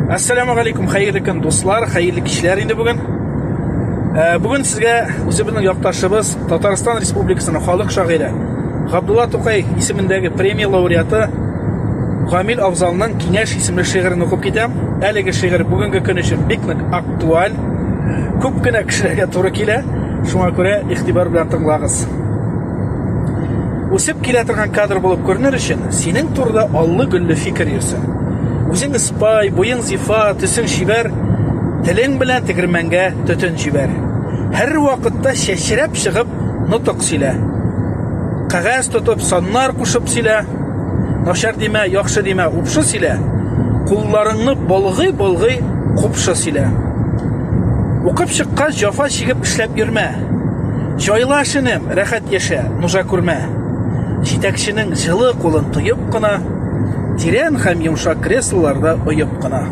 Ассаламу алейкум, хәерле көн, дуслар, хәерле кичләр инде бүген. Э, бүген сезгә үзебезнең якташыбыз, Татарстан Республикасының халык шагыйре Габдулла Тукай исемендәге премия лауреаты Гамил Авзалның Киңәш исемле шигырен укып китәм. Әлеге шигырь бүгенге көн өчен бик нык актуаль. Күп кенә кешеләргә туры килә. Шуңа күрә игътибар белән тыңлагыз. Үсеп килә торган кадр булып күренер өчен, синең турыда аллы-гөлле фикер йөрсен. Үзең спай, буең зифа, төсең чибәр, телең белән тегермәнгә төтен җибәр. Һәрвакытта чәчрәп чыгып, нотык сөйлә. Кәгазь тотып, саннар кушып сөйлә. Начар димә, яхшы димә, упшы сөйлә. Кулларыңны болгый-болгый, купшы сөйлә. Укып чыккач, җафа чигеп эшләп йөрмә. Җайла эшене, рәхәт яшә, нужа күрмә. Җитәкченең җылы кулын тоеп кына, тирән һәм йомшак креслоларда оеп кына.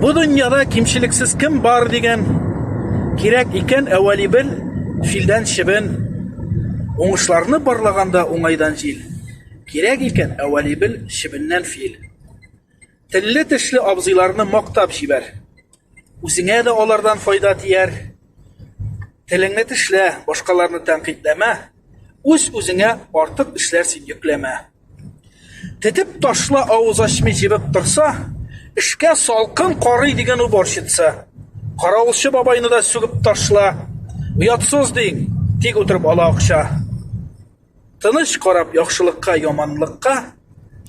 Бу дөньяда кимчелексез кем бар дигән кирәк икән әвәли бел филдән чебен уңышларны барлаганда уңайдан җил кирәк икән әвәли бел чебеннән фил телле тешле абзыйларны мактап җибәр Үзеңә дә алардан файда тияр. Телеңне тешлә, башкаларны тәнкыйтьләмә. Үз үзеңә артык эшләр син йөкләмә. Тетеп ташла авыз ачмый җебеп торса, эшкә салкын карый дигән уборщица. Каравылчы бабайны да сүгеп ташла. Оятсыз диң, тик утырып ала акча. Тыныч карап яхшылыкка, яманлыкка,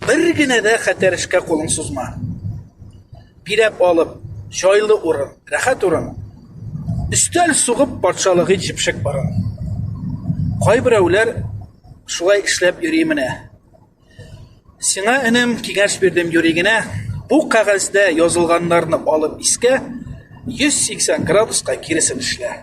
бер генә дә хәтәр эшкә кулың сузма. Биләп алып, җайлы урын, рәхәт урын, өстәл сугып патшалыгы җепшек барын. Кайберәүләр шулай эшләп йөри менә. Сиңа энем киңәш бирдем юри генә, бу кәгазьдә язылганнарны алып искә, 180 градуска киресен эшлә.